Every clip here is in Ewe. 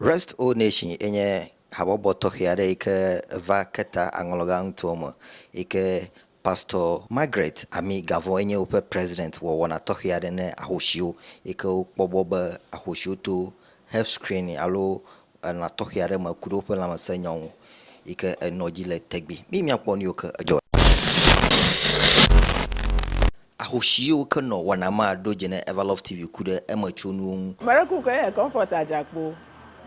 Rest O Nation ye nye habɔbɔ tɔxɛ aɖe yi ke va ke ta aŋlɔga ŋutɔwo me yi ke Pastor Margaret Ami Gavon ye nye woƒe President wɔ wɔna tɔxɛ aɖe ne ahoshiwo yi ke wokpɔ bɔ be ahoshiwo to health screening alo elã tɔxɛ aɖe me ku ɖe woƒe lãmesẽ nyɔ ŋu yi ke enɔ dzi le tɛgbi. Miyi mia kpɔ nu yiwo ke edzɔ le. Ahosi ye woke nɔ wɔna ma ɖo dze ne Everlove TV ku ɖe eme tso nuwo ŋu. Mereku kɔe nye Comfort Ajakpo.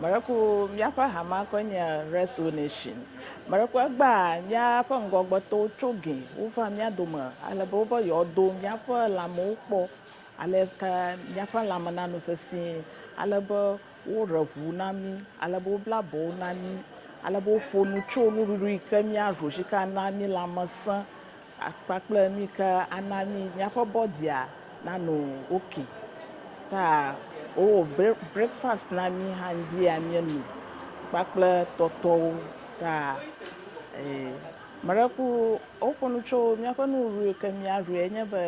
Mereku míaƒe hamea kɔe nye Wrestle Nation. Mereku egbea míaƒe ŋgɔgbetɔwo tso gɛ wova mía dome ale be wobe yewoado míaƒe lãmewo kpɔ aleke míaƒe lãme nano sesĩe, ale be woɖe ŋu na mí, ale be wobla abɔwo na mí, ale be woƒo nu tso nuɖuɖu yi ke míaɖu si ke ana mí lãme sẽ. Kpakple mí ke ana mí míaƒe bɔdia nano oke. Ta wowɔ breakfast na mí hã ŋdia míenu kpakple tɔtɔwo. Ta meɖe ku woƒo nu tso míaƒe nuɖuɖu yi ke míaɖu enye be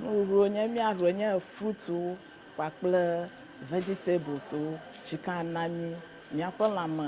nuɖuɖu nye míaɖu enye fruitwo kpakple vegetables wo si ke ana mí míaƒe lãme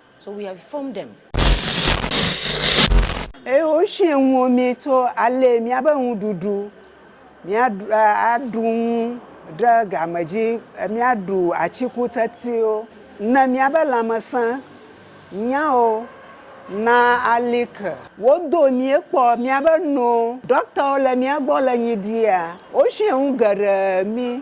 So we have formed them. Eye woshi ŋuwo mí tso ale míabe ŋuɖuɖu, míaɖu, aɖu ŋu ɖe game dzi, míaɖu atikutsetsewo, ne míabe lãmesẽ nyawo na ali ke. Wodo míekpɔ míabe no. Ɖɔktawo le mía gbɔ le nyi ɖia, woshi ŋu geɖe mí.